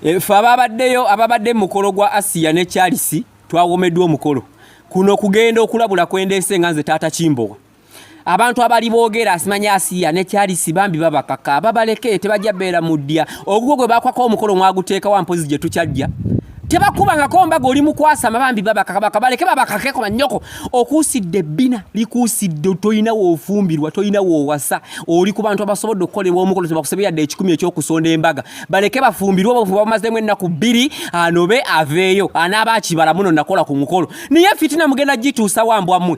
efe ababaddeyo ababadde mu mukolo gwa asiya ne charles twawomeddwa omukolo kuno kugenda okulabula kwendeese nga nze taata kimbowa abantu abali boogera asimanya asiya ne kyalisi bambi babakaka babaleke tebajja beera mu ddya ogugwo gwe bakwako omukolo mwaguteeka wa mpozi gye tukyajja tebakubangako mbaga oli mukwasama bambi babakakabaka baleke babakakeko banyoko okuusidde ebbina likuusidde tolina woofumbirwa tolina woowasa oli ku bantu abasobodde okukolebwa omukolo tebakusebe yadde ekikumi ekyokusonda embaga baleke bafumbirwe obufu bamazemu ennaku bbiri anobe aveeyo anaaba akibala muno nakola ku mukolo naye fitina mugenda gituusa wambwa mmwe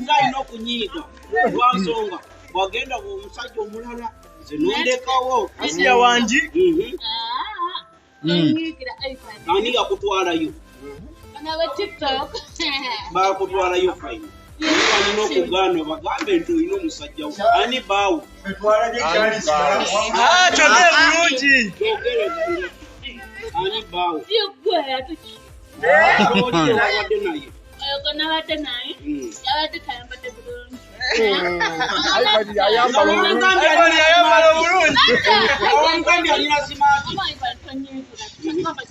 ngalina okunyiiga lwansonga bwagenda omusajja omulala nze nondekawo asiya wangi ani yakutwalayo bakutwalayo fayina balina okugaana obagambe nti olina omusajja wo ani baawo ani baawo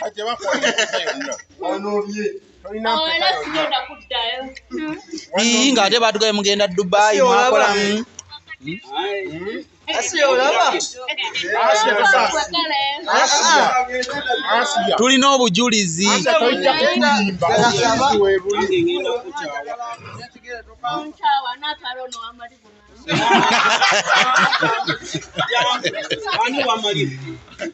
kati bakuwa onobye ii ng'ate baatugaye mugenda dubayi mwakola tulina obujulizi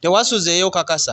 tewasuzeeyo kakasa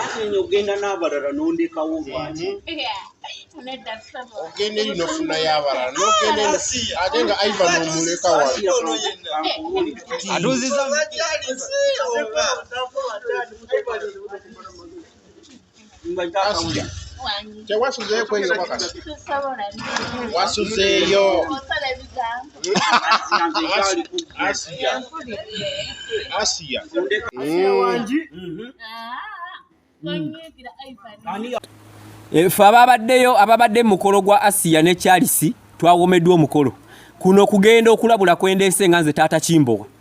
anti nyo ogenda n'abalala n'ondekawo lwaki ogenda eri nofuna y'abalala nogenda ate nga ivan omuleka watuziza tewasuzeeyo kwenyobakasi wasuzeeyo efe eh, ababaddeyo ababadde mu mukolo gwa asiya ne charles twawomeddwa omukolo kuno kugenda okulabula kwendeese nga nze taata kimbowa